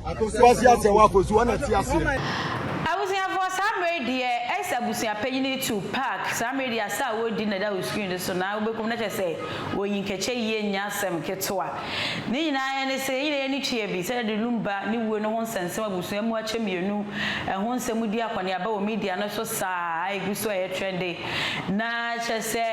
Kwasi Asɛwo akosu hɔ na ɛte aseɛ. Abusuafoɔ saa mmerɛ yi deɛ ɛyɛ sɛ abusua panyin retu park saa mmerɛ yi deɛ asa a wɔredi na ɛda wɔ screen no so na wobɛkum no kyerɛ sɛ wɔyi nkɛkyɛ yie nyɛ asɛm ketewa ne nyinaa ara ne sɛ yɛn nyinaa yɛn ani tua bi sɛdeɛ de Lumba ne wuo no ho nsɛnsɛm abusua mu akyɛ mmienu ɛho nsɛm di akɔneaba wɔ media no so saa a ɛgu so a ɛyɛ trɛnde Na kyerɛ sɛ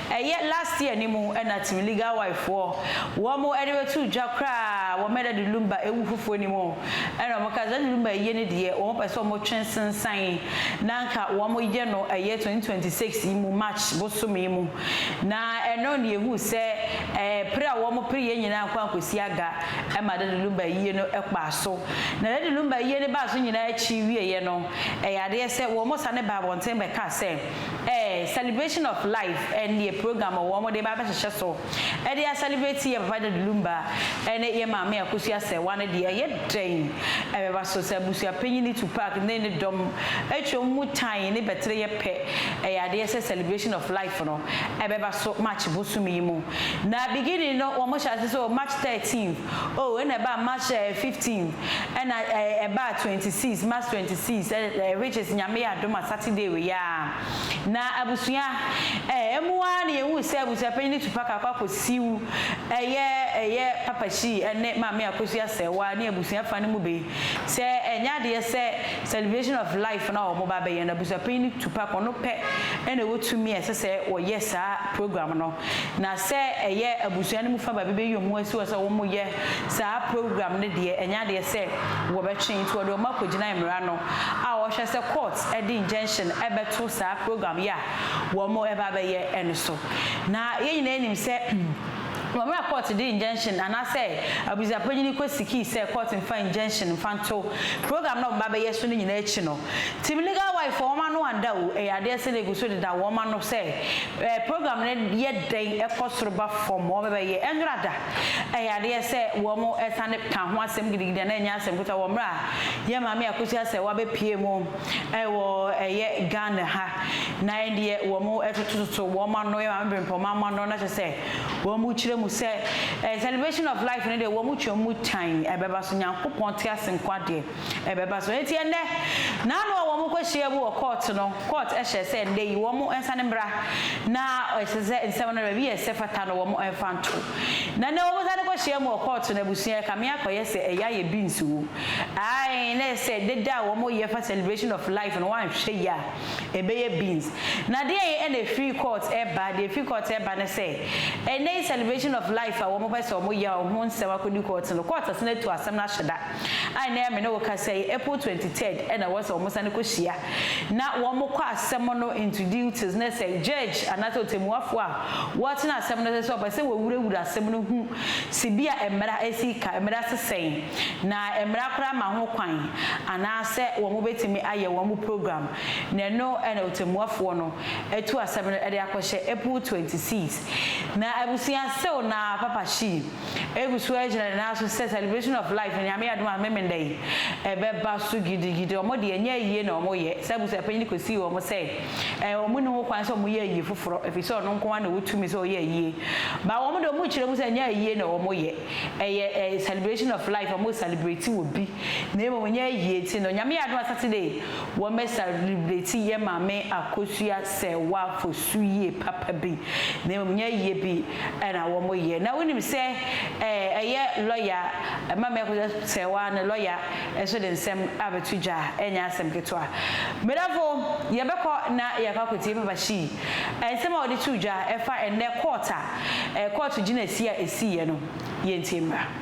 ɛyɛ last year no mu na Team Legal Wife foɔ wɔn de bɛtoo dwa koraa wɔ Meda de Lumba ɛwu foforɔ no mu ɛna wɔn kaa sɛ ɛne Lumba ayie no deɛ wɔn pɛ sɛ wɔn twe nsensan na anka wɔn yɛ no ɛyɛ 2026 yi mu March bosome yi mu na ɛno na yɛhuu sɛ ɛɛ pere a wɔn pere yɛ nyinaa ankɔ ankɔsi aga ɛma Dadi Lumba ayie no ɛkpaa so na Dadi Lumba ayie no baa so nyinaa akyi wieɛ no Ɛyɛ adeɛ sɛ wɔn sane ba abɔnten bɛka sɛ ɛɛ celebration of life ɛnneɛ program wɔ wɔn de ba abɛhyehyɛ so ɛde a celebrate yɛ papa Daddy Lumba ɛne yɛ maame Akosua Asɛɛwa no deɛ ɛyɛ dɛn ɛbɛba so sɛ abusua panyini Tupac ne ne dɔm atwa wɔn mu tan ne bɛtere yɛ pɛ ɛyɛ adeɛ sɛ celebration of life no ɛbɛba so March bosome yi mu na beginning no wɔn hyɛ ase sɛ o March 13th Oh ɛna ɛbaa March eh fifteen ɛna eh ɛbaa twenty six March twenty six eh eh which is Nyame yɛ adom a Saturday wei aa na abusua eh ɛmu aa na yɛhuu sɛ abusua panyin Tupac akɔ akɔ siw ɛyɛ ɛyɛ Papa Shee ɛne Maame Akosu Asɛɛwaa ne abusua fa no mu be sɛ ɛnyɛ adeɛ sɛ celebration of life no a wɔn ba abɛyɛ no abusua panyin Tupac wɔn pɛ ɛna wɔ tumi a ɛsɛ sɛ wɔyɛ saa program no. Na sɛ ɛyɛ abusua no mu fa baabi bɛyi wɔn asi hɔ sɛ wɔyɛ saa program no deɛ, ɛnyɛ adeɛ sɛ wɔbɛtwe. Nti wɔde wɔn akɔgyina mmara no a wɔhwɛ sɛ court de injunction bɛto saa program yi a wɔn reba abɛyɛ no so. Na yɛn nyinaa nim sɛ wɔ mmerɛ a court de injunction anaasɛ abusuapanyini kɔ sikii sɛ court mfa injunction mfa nto program no a wɔn reba abɛyɛ so no nyinaa akyi no, team legal wife wɔn ano anda o, ɛyɛ adeɛ sɛ na ɛgu so deda wɔn ano sɛ Ɛɛ program no yɛ dɛn kɔ soro ba fam? Wɔbɛbɛyɛ nnora da. Ɛyɛ adeɛ sɛ wɔsane ka ho asɛm gidigidi a na ɛnyɛ asɛm ketewa wɔ mmerɛ a yɛn Maame Akosua Asɛwaa bɛpuee mu wɔ ɛyɛ Ghana ha na ɛndeɛ wɔtotototo wɔn ano, yɛn Maame Brempɔmaa mo ano na kyerɛ sɛ wɔkyerɛ mu sɛ celebration of life no deɛ wɔtwam mu tan ɛbɛba so. Nyankopɔn te ase nko adeɛ. ɛbɛba so. Enti ɛnnɛ, n'ano a wɔkɔhyiaam wɔ kɔɔto no, kɔɔt hyɛɛ sɛ ɛnnɛ yi wɔn nsane mmra na ɛsɛ sɛ nsɛm no baabi a ɛsɛ fata no wɔn mfa nto. Na ɛnnɛ wɔsane kɔhyiaam wɔ kɔɔto no abusua ɛkame akɔyɛ sɛ ɛyɛ ayɛ beans o, ae na ɛyɛ sɛ dede a wɔyɛ fa celebration of life no woanhwɛ yie a ɛbɛyɛ beans. Na deɛn na ɛfiri kɔɔt reba? Deɛ ɛfiri kɔɔt reba ne sɛ ɛnnɛ yi celebration of life a wɔpɛ sɛ wɔyɛ a ho nsɛm akɔdi kɔɔt no, kɔɔt asane atu asɛm no ahyɛ da. a nnɛ a me ne wo kasa yi, April twenty third na ɛwɔ sɛ wɔsane kɔhyia na wɔkɔ asɛm no into duties na sɛ judge anaasɛ ɔtɛmmuafoɔ a wɔtena asɛm no so sɛ ɔpɛ sɛ wɔwurawura asɛm no hu sɛ bi a mmara asi ka, mmara se sɛn na mmara koraa ma ho kwan anaasɛ wɔbɛtumi ayɛ wɔn program na ɛno na ɔtɛmmuafoɔ no atu asɛm no de akɔhyɛ April twenty six na abusua sew na Papa Shi. egu so ara gyina ne nan so sɛ celebration of life Nyame adom a Memeneda yi ɛbɛba so gidigidi. Wɔn deɛ ɛnyɛ ayie na wɔn yɛ, saa abusuapanyin no kɔsii wɔn sɛ ɛɛ wɔn nni ho kwan sɛ wɔn yɛ ayie foforɔ ɛfiri sɛ ɔno nko ara na ɔwɔ tumi sɛ ɔyɛ ayie. But wɔn deɛ wɔn kyerɛ mu sɛ ɛnyɛ ayie na wɔn yɛ, ɛyɛ ɛɛ celebration of life, wɔn celebrate obi na mmom ɛnyɛ ayie. Nti no Nyame adom a Saturday wɔn bɛ celebrate yɛ Maame Akosua Serwaa Fosu. so yie papa bi na mmom nyɛ yɛ bi na wɔyɛ. Na wonim sɛ ɛyɛ lɔya ma mɛkɔyɛ sɛ wo ara ne lɔya nso de nsɛm abɛto dwa ɛnyɛ asɛm ketewa. Medɔfo yɛbɛkɔ na yɛakɔ akɔtie Papa Shee nsɛm a ɔde too dwa ɛfa ɛnnɛ kɔɔt a kɔɔto gyinasie a ɛsiiɛ no. Yɛntie mmra.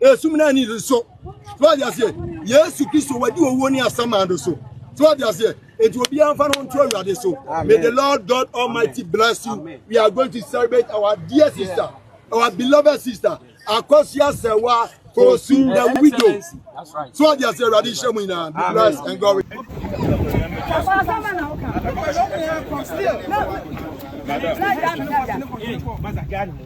esum na ani so so ɔde aseɛ yesu kristo wadi owuo ne asɛma do so so ɔde aseɛ eti obiara nfa no nto awurade so may the lord god almighty bless you we are going to celebrate our dear sister our beloved sister akɔsia sɛwa kosu the widow so ɔde aseɛ awurade nhyɛ mu nyinaa be blessed and glory. Madam.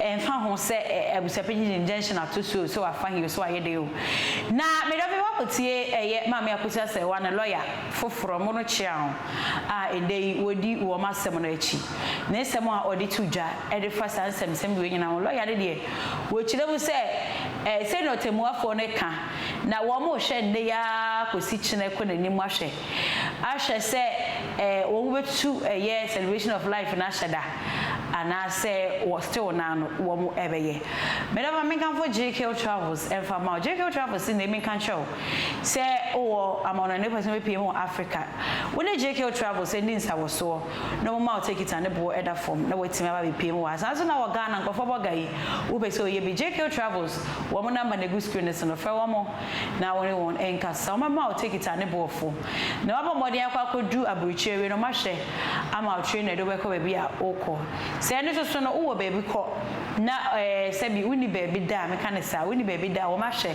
ɛmfa ho sɛ ɛ, abusuapanyin de injunction ato so o, sɛ wafa he o, sɛ wayɛ dɛn o. Na me dɔfo, woakotie ɛyɛ Maame Apostle Asariwa ne lɔya foforɔ, mo no kyeaw, a ɛdɛ yi wɔdi wɔn asɛm no akyi. Ne nsɛm a ɔde to dwa de fa saa nsɛmnsɛm wei nyinaa ho, lɔya no deɛ, wɔkyerɛ mu sɛ ɛ, sɛnea ɔtɛmmuafoɔ no ka, na wɔrehwɛ nnɛ yi ara kɔsi kyenɛ kɔ n'anim ahwɛ ahwɛ sɛ wɔbɛtu ɛyɛ celebration of life no ahyɛ da anaasɛ wɔ still no ara no wɔbɛyɛ. Me dɔ ma menkamfo JK Travels mfa mma wo. JK Travels se na menka nkyerɛ wo sɛ wowɔ amanɔne a wopɛ sɛ wobɛpue mu wɔ Africa, wo ne JK Travels nni nsawɔsoɔ na wɔmma wo tekiti a ne boɔ ɛda fam na woatumi aba abɛpue mu wɔ ha. Saa ara nso na wɔ Ghana nkorɔfoɔ bɔ ga yi, wopɛ sɛ woyɛ bi JK Travels wɔn number na ɛgu screen no so no frɛ wɔn. na wo ne wɔn nkasa. Wɔbɛma wo tekiti a ne bo yɛ fo, na woabɔ mmɔden akɔ akɔduru aburokyiri awie no, wɔahwɛ ama wo train a ɛde wo bɛkɔ baabi a worekɔ. Sɛ ɛno nso so no, wowɔ baabi kɔ, na ɛɛ, sɛbi wonni baabi da a, meka no saa, wonni baabi da a, wɔahwɛ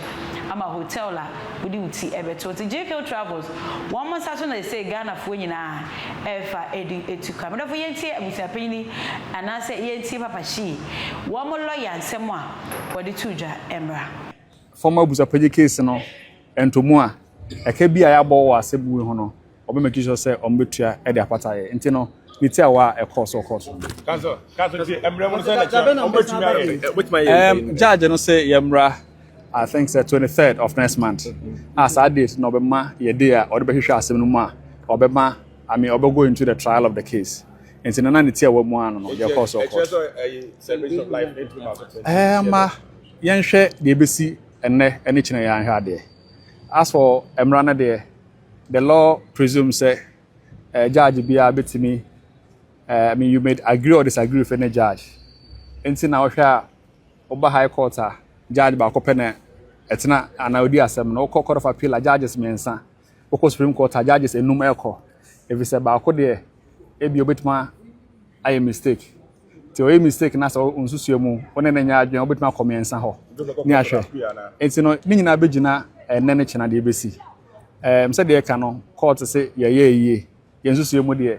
ama hotel a wode wo ti bɛto. Nti JKO Travels, wɔn nsa so na seesei Ghanafoɔ nyinaa refa de atu ka. Me dɔfo, yɛntie abusuapanyin yi anaasɛ yɛntie Papa Shee, wɔn lɔya nsɛm a wɔde too dwa mmra. fam abusapɛgye case no ntomu a, ɛka bi a yɛabɔ wɔ asɛm wei ho no, wɔbɛ make sure sɛ wɔbɛtua de apata yɛ. Nti no, ne tiawa a ɛkɔɔ so kɔɔ so. Um, judge no sɛ yɛmmra, I think sɛ 23rd of next month. A saa date na ɔbɛma yɛ day a ɔde bɛhwehwɛ asɛm no mu a, ɔbɛma, I mean, ɔbɛgo into the trial of the case. Nti no, na ne tiawa mu ano no, yɛkɔɔ so kɔɔ so. Um, Yɛnhwɛ deɛ ɛbɛsi ɛnnɛ ne kyena yi ara nhwɛ adeɛ. As for mmara no deɛ, the law presumes sɛ eh, judge biara bɛtumi, eh, I mean you may agree or disagree with any judge. Nti na wohwɛ a, woba high court a, judge baako pɛ na ɛtena anaa ɔdi asɛm no. Wokɔ court of appeal a, judges mmiɛnsa. wokɔ supreme court a judges enum ɛkɔ efisɛ baako deɛ ebi obetumi ayɛ mistake ti ɔyɛ mistake na sɛ nsusua mu ɔne ne nyɛ adwene obetumi akɔ mmiɛnsa hɔ ne ahwɛ nti no ne nyinaa bɛgyina ɛnɛ ne kyena deɛ ebesi ɛɛm sɛ deɛ ɛka no court se yɛyɛ yie yɛn nsusua mu deɛ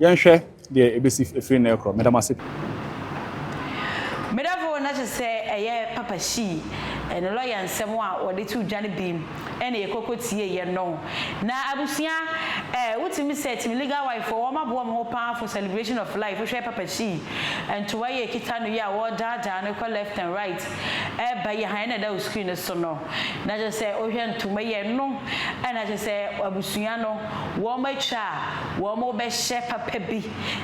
Yɛnhwɛ deɛ ɛbɛsi firi nnɛ rekorɔ. Meda mo ase pii. Me dɔfo na kyɛ sɛ ɛyɛ papa hyii ɛne lɔya nsɛm a wɔde too dwa no bi ɛna yɛ kɔkɔ tiee yɛ no na abusua ɛɛ wotumi sɛ tumi legal wife foɔ wɔn aboa wɔn ho paa for celebration of life wohwɛ papa hyii ntoa yi ɛkita no yi a wɔdaa daa no kɔ left and right ɛɛba yi ahaa ɛna ɛda wo screen no so no na kyɛ sɛ wohwɛ ntoma yi ɛno ɛna kyɛ sɛ abusua no wɔn atwa wɔbɛhyɛ papa bi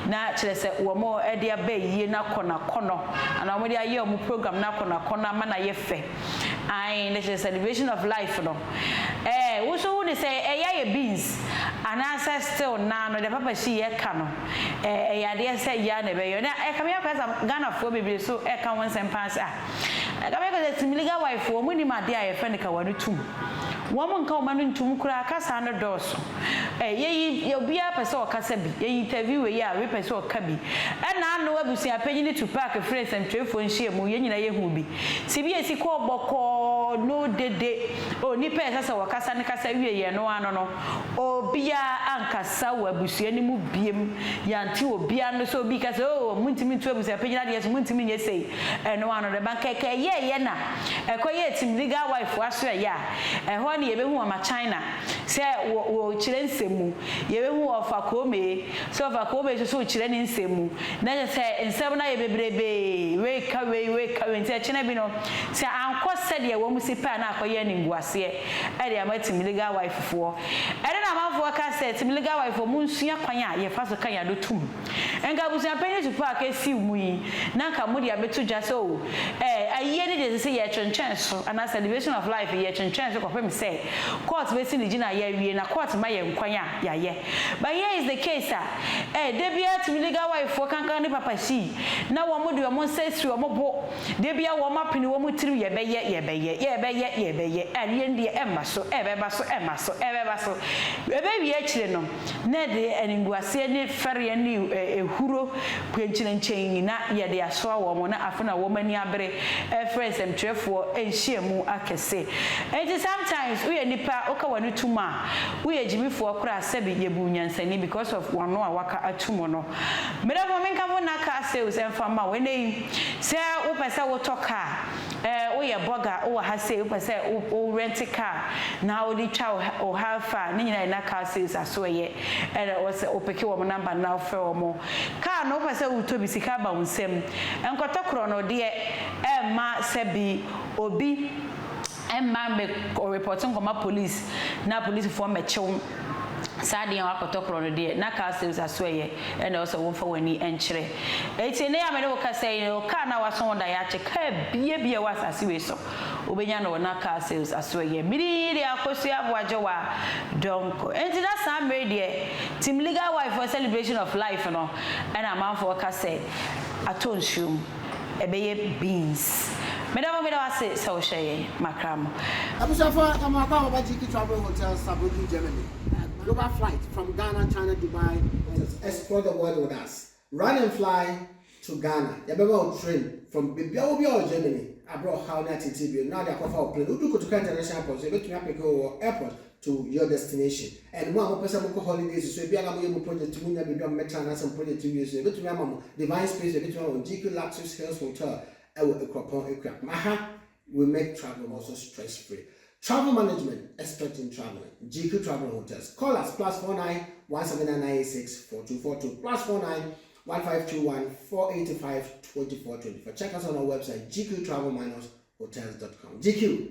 na kyerɛ sɛ wɔde aba ayie no akɔ no akɔnnɔ anaa wɔde ayɛ wɔn program no akɔ no akɔnnɔ ama no ayɛ fɛ ae na kyerɛ sɛ celebration of life no ɛɛ wo nso wo ne sɛ ɛyɛ ayɛ beans anaasɛ still naa no deɛ papa si yɛ ka no ɛɛ ɛyɛ adeɛ sɛ yɛ a na ɛbɛyɛ na ɛka me akora sɛ Ghanafoɔ bebree so ɛka ho nsɛm paa sɛ ah Na ka bɛka sɛ Tsimiliga Waifo wɔn nnim adeɛ a yɛfrɛ no kawa no tum. Wɔn nka wɔn ano ntum koraa kasaa no dɔɔso. Ɛ, yɛyi, yɛ obiara pɛ sɛ ɔkasa bi, yɛyi interview wei a wei pɛ sɛ ɔka bi. Ɛna ano abusuapanyini Tupac frɛɛ nsɛmtwerɛfoɔ nhyiamu, yɛn nyinaa yɛhuu bi. Sɛ bi asi kɔɔ bɔkɔɔ, no dede, onipa a ɛsɛ sɛ wɔkasa no kasa wieeɛ no ano no, Obiara ankasa wɔ abusua no mu biom. Yɛante obiara nne sɛ obi rekasa sɛ, Oh, montumi ntu abusua panyin adeɛ so, montumi nyɛ sei. Ɛno ano no, bankɛkɛ ɛyɛɛyɛ na ɛkɔyɛɛ Tim Legal Wife asoɛeɛ a ɛhɔ ara na yɛbɛhu Mama China sɛ wɔ, wɔ kyerɛ nsɛm mu. Yɛbɛhu Ɔfa Koomee sɛ Ɔfa Koomee nso so kyerɛ ne nsɛm mu. Na kyerɛ sɛ, nsɛm no ayɛ bebrebee, wei ka wei, wei ka wei, nti ɛkyena bi no, sɛ ankɔ sɛdeɛ wɔn se pɛ a na akɔyɛ animguaseɛ. ɛde ama Timiligawaifofoɔ. Ɛnna Naamanfoɔ ka sɛ, Timiligawaifoɔ, monsua kwan a yɛfa so ka yɛn ano tom. Anka abusuapɛn ne supaaka asiw mo yi, na anka mode abɛto dwa sɛ, Oh, ɛɛ, ayie no deɛ ɛsɛ sɛ yɛtwentwɛn so, anaa Celebration of Life yi, yɛtwentwɛn so kɔpem sɛ kɔɔt bɛsi ne gyinaeɛ awie, na kɔɔt ma yɛn kwan a yɛayɛ. But here is the case a, ɛɛ, da biara Timiligawaifoɔ kankan ne papa sii, na wɔde wɔn nsa siri wɔn bo, Da biara wɔapene wɔn tirim yɛbɛyɛ, yɛbɛyɛ, yɛbɛyɛ, yɛbɛyɛ, a ne yɛn deɛ ɛmma so, ɛbɛba so, ɛmma so, ɛbɛba so. Ɛbɛwie akyire no, na yɛde animguaseɛ ne fɛreɛ ne ehuro kwenkyenenkyɛn nyinaa yɛde asoa wɔn, na afei na wɔn ani abere ɛrefrɛ nsɛmtwerɛfoɔ nhyiamu akɛse. Enti sometimes woyɛ nipa a woka w'ani tom a, woyɛ gyimifoɔ koraa sɛbe yɛbu nyansani because of w'ano a waka atom no. Merɛ mo menka mo nnaka sales ɛmfa mma wo ɛnnɛ yi. Sɛ wopɛ sɛ wotɔ kaa, ɛɛ, woyɛ bɔga, wowɔ ha sei, wopɛ sɛ wo wo rɛnte kaa na wode twa wo ha wo ha fa a, ne nyinaa yɛ na car sales asoɛyɛ. Ɛna ɛwɔ sɛ wopeke wɔn number no na wofrɛ wɔn. Kaa no wopɛ sɛ wotɔ bi, sika ba wo nsam. Nkɔtɔ korɔno deɛ, ɛmma sɛ bi obi mma mmɛ repɔte nkɔma police na polisifoɔ mmɛkye wo. Saa deɛ wakɔtɔ korɔ no deɛ, na car sales asoɛyɛ na ɛwɔ sɛ womfa w'ani nkyerɛ. Enti nnɛ yi a me ne wo kasa yi no, car no a woaso ho daeɛakye, car biara biara ɛwɔ asase wei so, wobɛnya no wɔ na car sales asoɛyɛ. Midi yi deɛ Akosua Aboagyewa Donkor. Enti na saa mmerɛ yi deɛ, Team Legal Wife foɔ celebration of life no na amanfoɔ ka sɛ atɔ nsuo mu. ɛbɛyɛ beans. Meda mo meda wo ase sɛ wo hyɛ yɛn makram. Abusuafo ɛmo akɔ ababa GP travel hotel Saarbrücken Germany global flight from Ghana China Dubai and explore the world with us run and fly to Ghana yɛbɛma wo train from bebia wo biara wɔ Germany abrɛ ɔhaw ne atitire bio na wode akɔ fa wo plane wodu Kotoka international airport nso yɛbɛtumi apeke wo wɔ airport to your destination and mo a mopɛ sɛ mokɔ holidays so ebia na moyɛ mo project mo nya baabi a mobɛtra anaasɛ mo project wie so yɛbɛtumi ama mo divine space bi ɛbɛtumi ama mo GQ Luxus Hills Hotel ɛwɔ Akuapɔn Akua aha we make travel also stress free travel management expert in traveling GQ Travel and Hotels call us plus 49 17986 4242 plus 49 1521 485 2424 check us on our website gqtravel-hotels.com GQ